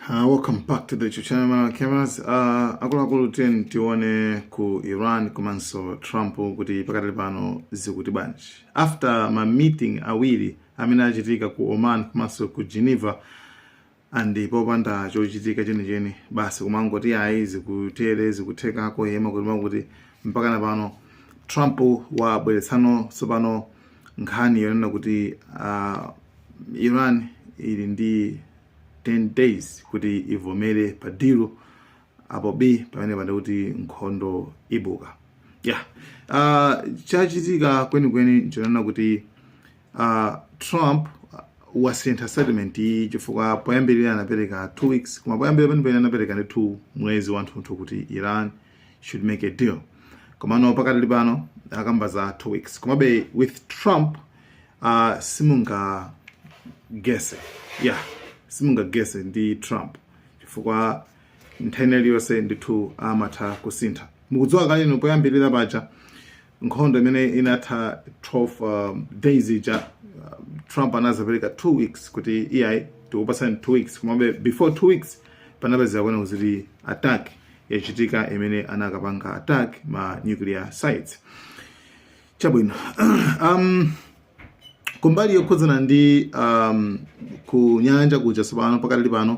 Uh, welcome back to the Icho channel Malawi cameras uh, akuluakulu tiyeni tione ku iran komanso trump kuti pakati pano zikuyenda bwanji after ma meeting awiri amene achitika ku oman komanso ku geneva and popanda chochitika chenicheni basi kumangoti ayi zikutere zikuthekako yema kuti makuti mpakana pano trump wabweretsano tsopano nkhani yonena kuti uh, iran ili ndi 10 days kuti ivomere pa deal apo b pamenepa ndiye kuti nkhondo ibuka yeah uh, chachitika kwenikweni nchonena kuti uh, trump wasintha settlement iyi chifukwa poyambirira anapereka 2 weeks koma poyambirira penipeni anapereka ndi 2 mwezi wanthunthu kuti iran should make a deal komano pakadali pano akamba za two weeks komabe with trump uh, simunga guess yeah simunga guess ndi trump chifukwa nthawi iliyonse ndithu amatha kusintha mukudziwa kale poyambirira paja nkhondo imene inatha 12 um, days ija um, trump anazapereka 2 weeks kuti iyayi tikupasani 2 weeks komabe before 2 weeks panapezeka kunena kuti attack yachitika imene anakapanga attack ma nuclear sites chabwino um, kumbali yokhudzana ndi um, kunyanja kuja tsopano pakadali pano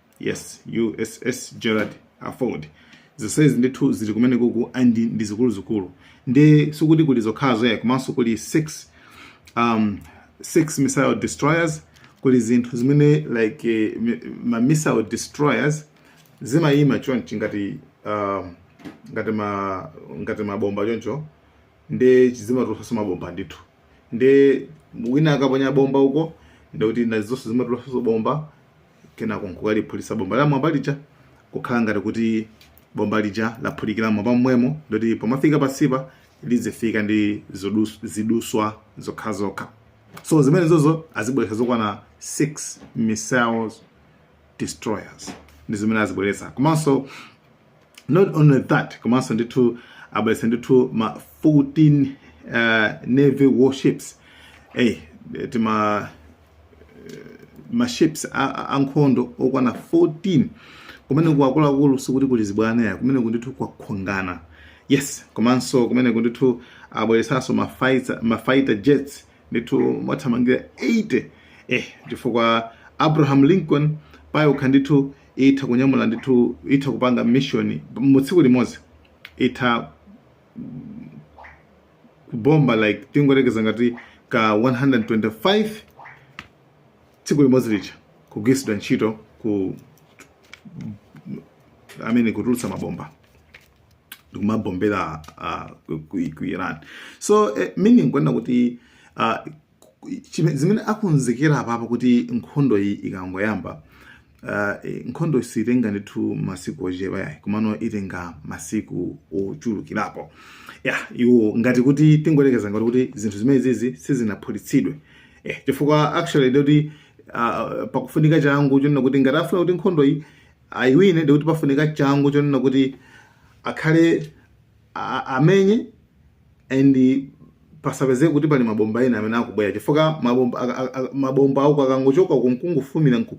yes uss gerald r ford zonsezi ndithu zili kumeneko and ndi zikuluzikulu ndiye sikuti kuli zokhazo ayi komanso kuli six um, six missile destroyers kuli zinthu zimene like eh, mi- ma missile destroyers zimayima chonchi ngati um, ngati ma ngati mabomba choncho ndiye zimatulutsanso mabomba ndithu ndiye wina akaponya bomba uko ndiye kuti nazonso zimatulutsanso bomba kenako nkukaliphulitsa bomba la mmwamba lija kukhala ngati kuti bomba lija laphulikira mmwamba momwemo ndiye kuti pomafika pansipa lizifika ndi zodus- ziduswa zokhazokha so zimenezozo azibweretsa zokwana 6 missiles destroyers ndi zimene azibweretsa komanso not only that komanso ndithu abweretsa ndithu ma 14 uh, navy warships hey, tima maships ankhondo okwana 14 kumeneko akuluakulu sikuti kuli zibwana ayi kumeneko ndithu kwakongana yes komanso kumeneko ndithu abweretsanso mafighter mafighter jets ndithu mwathamangira 80 eh chifukwa abraham lincoln payokha ndithu itha kunyamula ndithu itha kupanga mission mu tsiku limodzi itha kubomba like tingoyerekeza ngati ka 125 tsiku limodzi lija kugwiritsidwa ntchito I mean kutulutsa mabomba ndikumabombera uh, ku, ku, ku iran so eh, meaning kunena kuti uh, zimene akonzekera apapa kuti nkhondo iyi ikangoyamba uh, eh, nkhondo siitenga ndithu masiku ochepa yayi komano itenga masiku ochulukirapo ya iwo ngati kuti tingoyerekeza ngati kuti zinthu zimene zizi sizinaphulitsidwe eh, chifukwa actually ndikuti uh, ah, pakufunika changu chonena kuti ngati afuna kuti nkhondo iyi ayiwine ndikuti pafunika changu chonena kuti akhale amenye and pasapezeke kuti pali mabomba ena amene akubwera chifukwa mabomba aka- aka- aka- mabomba auko akangochoka uko nkungovumira nku-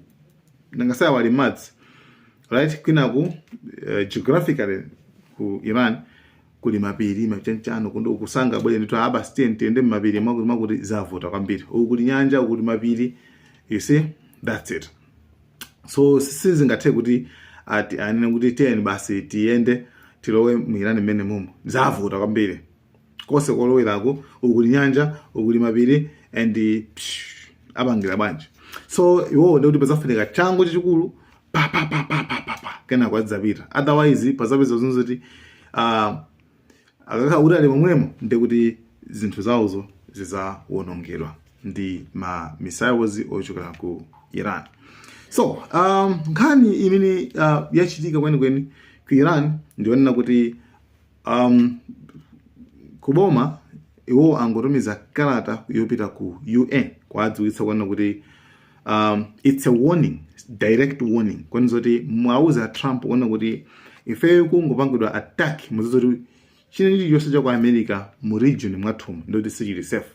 nanga sayawali madzi right kwinaku uh, geographically ku iran kuli mapiri machanchano kundo ukusanga bwere ndithu a basi tiye tiyende mmapiri mwakuti mwakuti zavuta kwambiri uku kuli nyanja uku kuli mapiri you see that's it so sizingathe kuti anene kuti tiyeni basi tiyende tilowe mu irani mmene mumo zavuta kwambiri konse koloweraku uku kuli nyanja uku kuli mapiri and psh, apangira bwanji so iwowo ndikuti pazafunika changu chachikulu papapapapapapa kenako adzapita otherwise pazapeza zinzoti uh, akakhala kuti ali momwemo ndi kuti zinthu zawozo zidzawonongedwa ndi ma missiles ochokera ku iran so um, nkhani imene uh, yachitika kwenikweni ku iran ndi yonena kuti um, kuboma iwo angotumiza kalata yopita ku un kuwadziwitsa kunena kuti um, it's a warning direct warning kwenizo kuti muwauze trump kunena kuti ifeyo kungopangidwa attack muziwe kuti china chilichonse cha ku america mu region mwathumu nde kuti sichili safe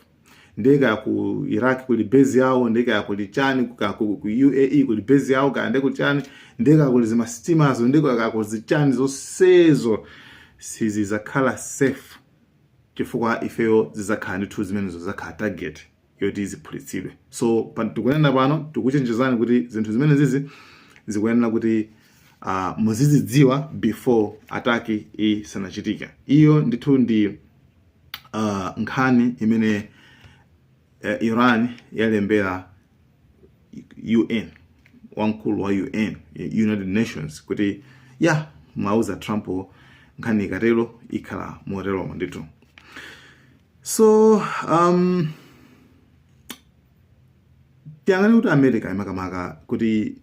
nde kaya ku iraq kuli base yawo nde kaya kuli chani ku, ku, ku uae kuli base yawo kaya nde kuli chani nde kaya kuli zimasitimazo nde kaya kuli zichani zonsezo sizizakhala safe chifukwa ifeyo zizakhala ndithu zimenezo zakhala target yoti ziphulitsidwe. So tikunena pano tikuchenjezani kuti zinthu zimene zizi zikuyenera kuti uh, muzizidziwa before attack isanachitika. Iyo ndithu ndi uh, nkhani imene uh, Iran yalembera UN wamkulu wa UN United Nations kuti ya muwauze Trump nkhani ikatero ikhala moteromo ndithu. so um, tiyang'ane kuti america imakamaka kuti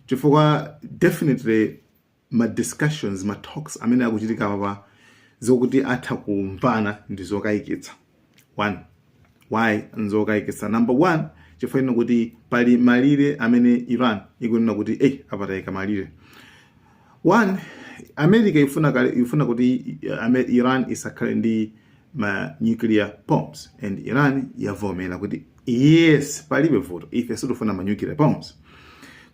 chifukwa definitely ma discussions ma talks amene akuchitika apapa zokuti atha kumvana ndi zokayikitsa one why nzokayikitsa number one chifukwa chonena kuti pali malire amene iran ikunena kuti ayi apa tayika malire One, America ifuna kale ifuna kuti i- Ame- Iran isakhale ndi ma nuclear bombs and Iran yavomera kuti yes palibe vuto ife sitifuna ma nuclear bombs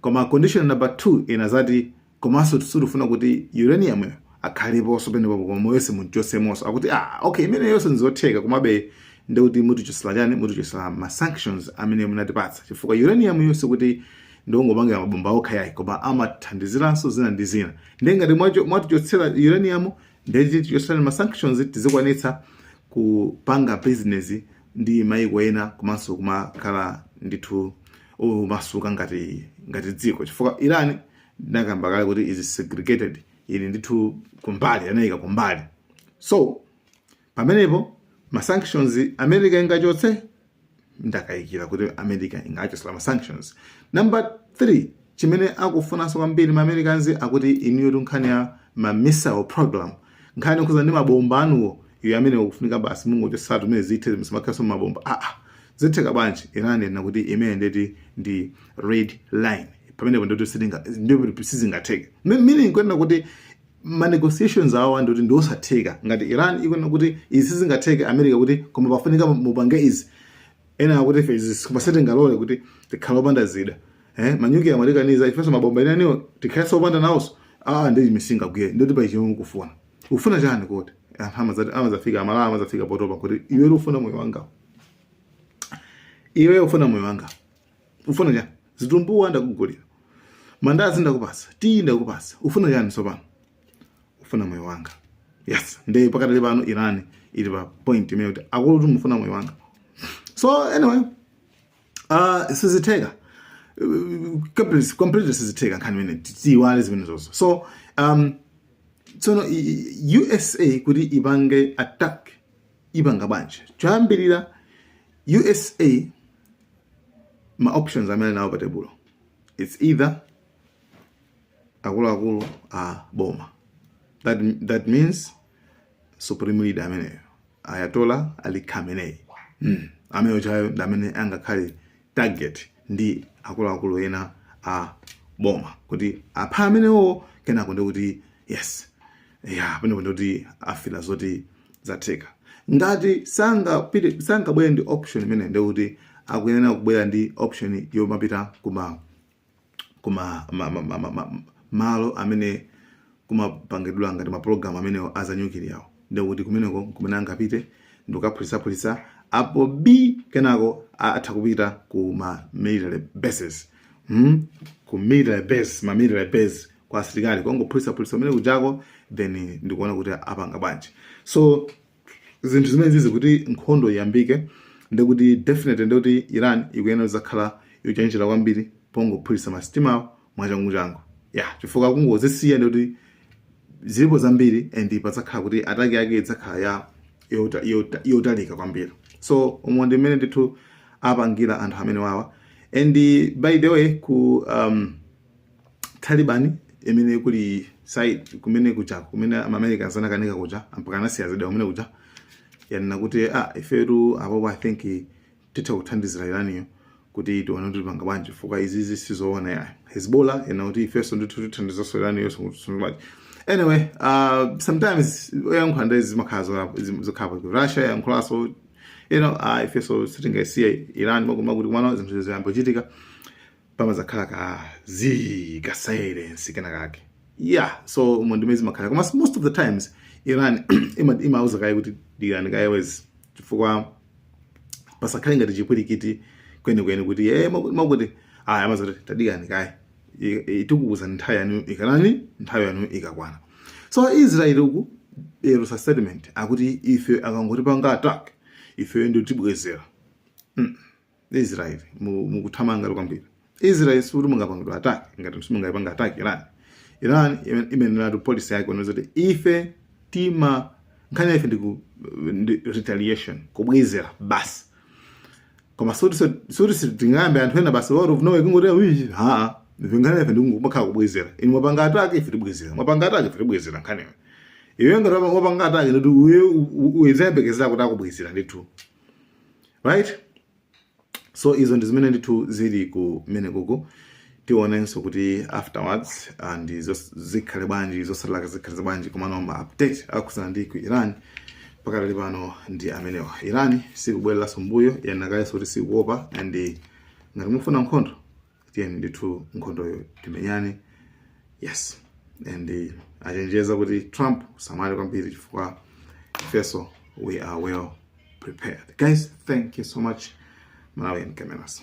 koma condition number 2 inazati komanso sitifuna kuti uranium yo akhaleponso penepo koma yonse muchotsemonso akuti ah okay imeneyonso nzotheka komabe ndikuti mutichotsera chani mutichotsera ma sanctions amene munatipatsa chifukwa uranium yo sikuti ndikungopangira mabomba okha yayi koma amathandiziranso zina ndi zina ndiye ngati mwacho- mwatichotsera uranium ndiye tichotsereni ma sanctions tizikwanitsa kupanga business ndi maiko ena komanso kumakhala ndithu omasuka ngati ngati dziko chifukwa iran ndinakamba kale kuti is segregated ili ndithu kumbali anayika kumbali so pamenepo ma sanctions america ingachotse ndakayikira kuti america ingachotse ma sanctions number 3 chimene akufunanso kwambiri ma americans akuti inuyo nkhani ya ma missile program nkhani yokhudza ndi mabomba anuwo iyayi amene akufunika basi mungochotsatu mmene zithe musamakhalenso mabomba aa ah, ah. zitheka bwanji iran ikunena kuti imene ndeti ndi red line pamenepo ndoti sizingatheke meaning kunena kuti ma negotiations awa ndoti ndi osatheka ngati iran ikunena kuti izi sizingatheke america ikuti koma pafunika mupange izi ena akuti ife izi sitingalole kuti tikhale opanda zida eh, ma nuclear amatikaniza ifenso mabomba ena eniwo tikhalenso opanda nawonso aa ndi chimene singagwire ndoti pa achimwene mukufuna ufuna chani kuti anthu amazati amazafika amalawa amazafika potopa kuti iwe ufuna moyo wanga iwe ufuna moyo wanga ufuna chani zitumbuwa ndakugulira mandazi ndakupasa tiyi ndakupasa ufuna chani tsopano ufuna moyo wanga yes nde pakatali pano iran ili pa point imene ikuti akulutu mufuna moyo wanga so anyway uh, sizitheka completely completely sizitheka nkhani imene tiyiwale zimenezozo so um, tsono i- i- usa kuti ipange attack ipanga bwanji choyambirira usa ma options amene anawo pa tebulo it's either akuluakulu a boma that, that means supreme leader ameneyo ayatola ali khamenei mm. ameneyo uja iyeyo ndi amene angakhale target ndi akuluakulu ena a boma kuti aphe amenewo kenako ndi kuti yes ya pamene pano kuti afila zoti zatheka ngati sangabwere ndi option imene ndi kuti akuyenera kubwera ndi option yomapita kuma kuma ma, ma, ma, ma, ma, malo amene kumapangidwa ngati mapulogalamu amenewo a zanyukiliyawo ndikuti kumeneko kumene angapite ndikukaphulitsaphulitsa apo b kenako a- atha kupita ku ma military bases hmm? ku military base ma military base kwa asilikali kongophulitsa phulitsa kumene kujako then ndikuona kuti apanga bwanji so zinthu zimenezizi kuti nkhondo iyambike ndikuti definitely ndikuti iran ikuyenera zakhala yochenjera kwambiri pongophulitsa masitimawo mwachanguchangu ya chifukwa kungozisiya ndikuti zilipo zambiri and padzakhala kuti ataki yake idzakhala ya yota- yota- yotalika kwambiri so umo ndi mmene ndithu apangira anthu amenewawa and by the way ku um, Taliban imene kuli side kumene kuja kumene amamerika anakanika kuja mpaka anasiya zida kumene kuja yanena kuti ah ifetu apopo i think titha kuthandizira iraniyo kuti tione kuti tipanga bwanji chifukwa izizi sizoona ya hezbollah yanena kuti ifenso ndithu tithandizanso iraniyo bwanji anyway uh, sometimes poyankhula nde zimakhala zola- zokhapo russia yankhulanso you know ah ifenso sitingasiye iran kumakuti komano zinthu ziyambochitika pamazakhala ka zii ka silence kena kake yeah so umo ndi mmene zimakhala koma most of the times iran ima- imauza kaye kuti dikirani kaye wezi chifukwa pasakhale ngati chipwirikiti kwenikweni kuti e amakuti aya amazati tadikirani kaye I- tikuuzani nthawi yanu ikakwana nthawi yanu ikakwana so israeli uku yatulutsa statement akuti ife akangotipanga attack ifeyo ndiye tibwezera Israel mu- mukuthamangatu kwambiri Israel sikuti mungapangidwa attack ngati simungapanga attack Iran Iran ime- inaneneratu policy yake yonena kuti ife tima nkhani yaife ndiku ndi retaliation kubwezera basi koma sikuti so- sikuti sitingayambe anthu ena basi out of nowhere kungoti "Uyi, haa nkhani ife ndikungokhala kubwezera inu mwapanga attack ife tibwezera mwapanga attack ife tibwezera nkhani iwe iwe ngati wapanga attack ndikuti uye uzizayembekezera kuti akubwezera ndithu right so izo ndi zimene ndithu zili kumenekuku tionenso kuti afterwards and zos- zikhale bwanji zotsalazo zikhale bwanji komano ma update akhudzana ndi ku iran pakadali pano ndi amenewa iran sikubwereranso mbuyo yanenanso kuti sikuopa and ngati mufuna nkhondo tiyeni ndithu nkhondoyo timenyane yes and achenjeza kuti trump usamale kwambiri chifukwa ifeso we are well prepared guys thank you so much malawian cameras